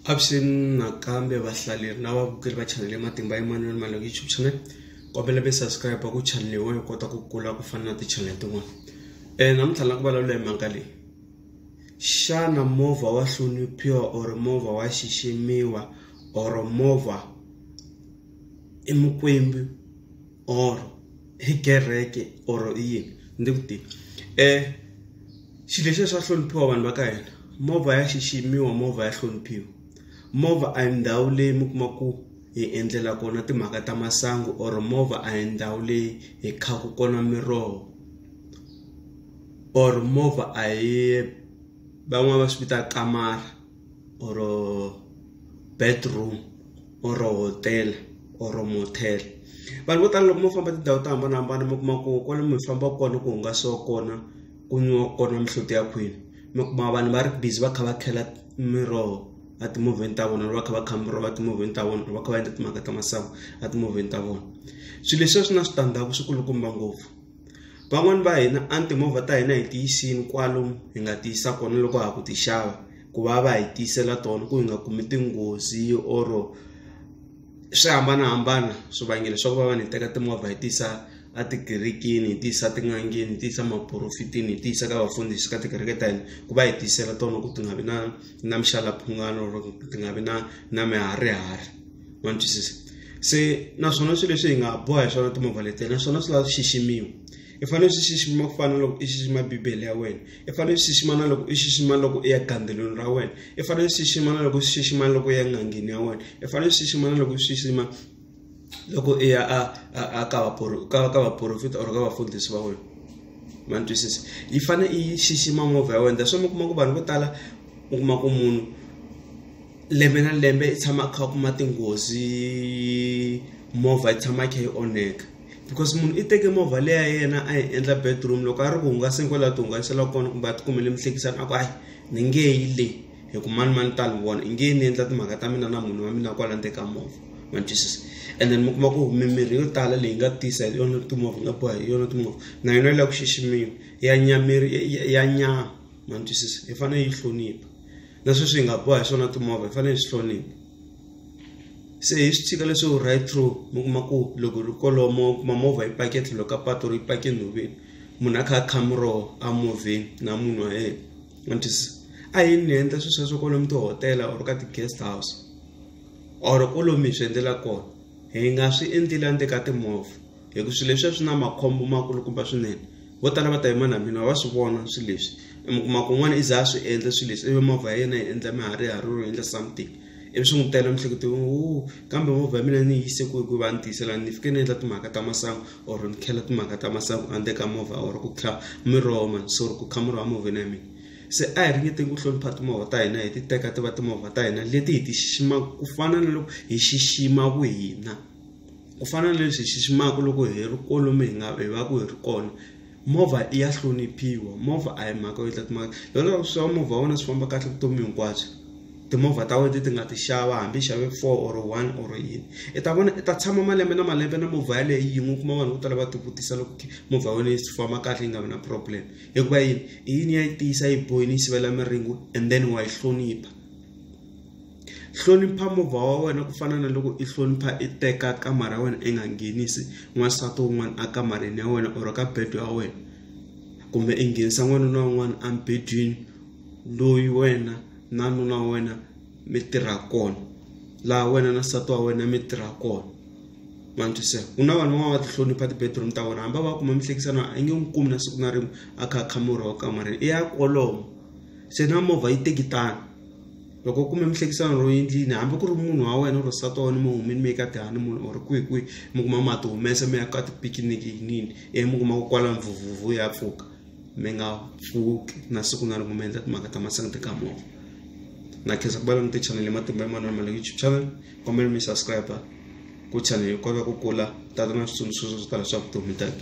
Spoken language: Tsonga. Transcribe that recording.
Avuxeni nakambe vahlaleri na vavukeli va chanele Matimba Emmanuel Malunga YouTube channel kombela mi subscribe ku channel yin'wana yi kota ku kula ku fana na ti-channel tin'wana um namuntlha na ku vulavula hi mhaka leyi xana movha wa hloniphiwa or movha wa xiximiwa or movha i mukwembu or hi kereke or i yini ndzi ku tiva um xilo lexiya swa hloniphiwa vanhu va ka hina movha ya xiximiwa movha ya hloniphiwa movha a hi ndhawu leyi mi kuma ku hi endlela kona timhaka ta masangu or movha a hi ndhawu leyi hi khaku kona miroho or movha a hi van'wani va swi vita kamara. or-o bedroom or-o hotel or-o motel. Vanhu vo tala loko mo famba tindhawu to hambanahambana mi kuma ku kwale mi fambaka kona ku hungasiwa kona ku nwiwa kona mihloti ya khwini mi kuma vanhu va ri busy va kha va khela miroho a timovheni ta vona va kha va kha miroho a timovheni ta vona va kha va endla timhaka ta masangu a timovheni ta vona swilo leswiya swi na switandzhaku swi kulukumba ngopfu. Van'wani va hina a ni timovha ta hina hi ti yisini kwalo hi nga ti yisa kona loko ha ha ku ti xava ku va va hi tiyisela tona ku hi nga kumi tinghozi or swi hambanahambana swivangelo swa ku va va ni teka timovha hi ti yisa a tikerekeni hi ti yisa etin'angeni hi ti yisa maporofetini hi ti yisa ka vafundhisi ka tikereke ta hina ku va hi tiyisela tona ku ti nga vi na na mixalaphungwana or ti nga vi na na mihari hari. ma ni twisisa se naswona swilo leswi hi nga boha hi swona timovha letiya naswona swi lava swi xiximiwa i fanele swi xixima ku fana na loko i xixima bibele ya wena i fanele swi xixima na loko i xixima loko i ya gandzelweni ra wena i fanele swi xixima na loko swi xixima loko i ya n'angeni ya wena i fanele swi xixima na loko swi xixima loko i ya a a ka ka ka vaporofita or ka vafundhisi va wena ma ni twisisa yi fanele i xixima movha ya wena that's why mi kuma ku vanhu vo tala u kuma ku munhu lembe na lembe i tshama a kha a kuma tinghozi movha yi tshama yi kha yi onheka because munhu i teke movha leyi ya yena a yi endla bedroom loko a ri ku hungaseni kwalaho ti hungasela kona kumbe a ti kumele mihlekisani a ku hayi ni nge yi le hi ku mani mani ta ni vona i nge ni endla timhaka ta mina na munhu wa mina kwala ndzeni ka movha ma twisisa and then mi kuma ku mimirhi yo tala leyi nga tisa hi yona timovha nga boha hi yona timovha na yona yi lava ku xiximiwa ya nyameri ya nyama ma twisisa hi fanele yi hlonipha na sweswi hi nga boha hi swona timovha hi fanele hi swi hlonipha se hi swi tshika leswo right through mi kuma ku loko ri kolomo kuma movha yi pake tlhelo ka pato ri yi pake nhoveni munhu a kha a khamuro a movheni na munhu wa yena antis a hi ni endla swilo sweswo kwalomu tihotela or ka ti-guest house or kwalomu hi swi endlela kona hi nga swi endleli endzeni ka timovha hi ku swilo leswi swi na makhombo makulukumba swinene vo tala va ta yima na mina va swi vona swilo leswi mi kuma ku un'wana i za a swi endla swilo leswi ivi movha ya yena yi endla miharihariro yi endla something ivi swi n'wi tela mihleketelweni wo kambe movha ya mina ni yi yise ku hi ku va ni tiyisela ni fike ni endla timhaka ta masangu or ni khela timhaka ta masangu a ka movha or ku kha miroho mani so ku kha miroho emovheni ya mina se a hi ringeteni ku hlonipha timovha ta hina hi ti teka ti va timovha ta hina leti hi ti xiximaka ku fana na loko hi xixima vuhina ku fana na leswi hi xiximaka loko hi ri kwalomu hi nga hi va ku hi ri kona movha i ya hloniphiwa movha a hi mhaka yo tlula timhaka loko swi tiva movha wa wena swi famba kahle vutomi hinkwabyo timovha ta wena ti nga ti xava hambi xave four or one or yini i ta vona i ta tshama malembe na malembe na movha yaleyo yin'we u kuma vanhu vo tala va ti vutisa loko movha ya wena yi famba kahle yi nga vi na problem hikuva yini i yini ya yi tiyisa yi boyini yi sivela miringo and then wa yi hlonipha. hlonipha movha wa wena ku fana na loko i hlonipha i teka kamara ya wena i nga nghenisi n'wansati wun'wana a kamareni ya wena or ka bedo ya wena kumbe i nghenisa n'wana na un'wana embedweni loyi wena na nuna wa wena mi tirha kona laha wena na nsati wa wena mi tirha kona ma ni twisisa ku na vanhu van'wana va tihlonipha ti-bedroom ta vona hambi va kuma mihlekisano a nge n'wi kumi na siku na rin'we a kha a kha murhi wa kamareni i ya kolomo se na movha yi teki tano loko u kume mihlekisano ro endlini hambi ku ri munhu wa wena or nsati wa wena mi humini mi ye ka dani munhu or kwihi kwihi mi kuma ma ti humesa mi ya ka tipikiniki yinini ivi mi kuma ku kwala mvuvhuvu ya pfuka mi nga pfuki na siku na rin'we mi endla timhaka ta masangu ti kamoka na khensa ku va langute chanele matimba ya manana male youtube channel kombela mi subscribe ku chanele yi kota ku kula tata na switsundzuxo swo tala swa vutomi tata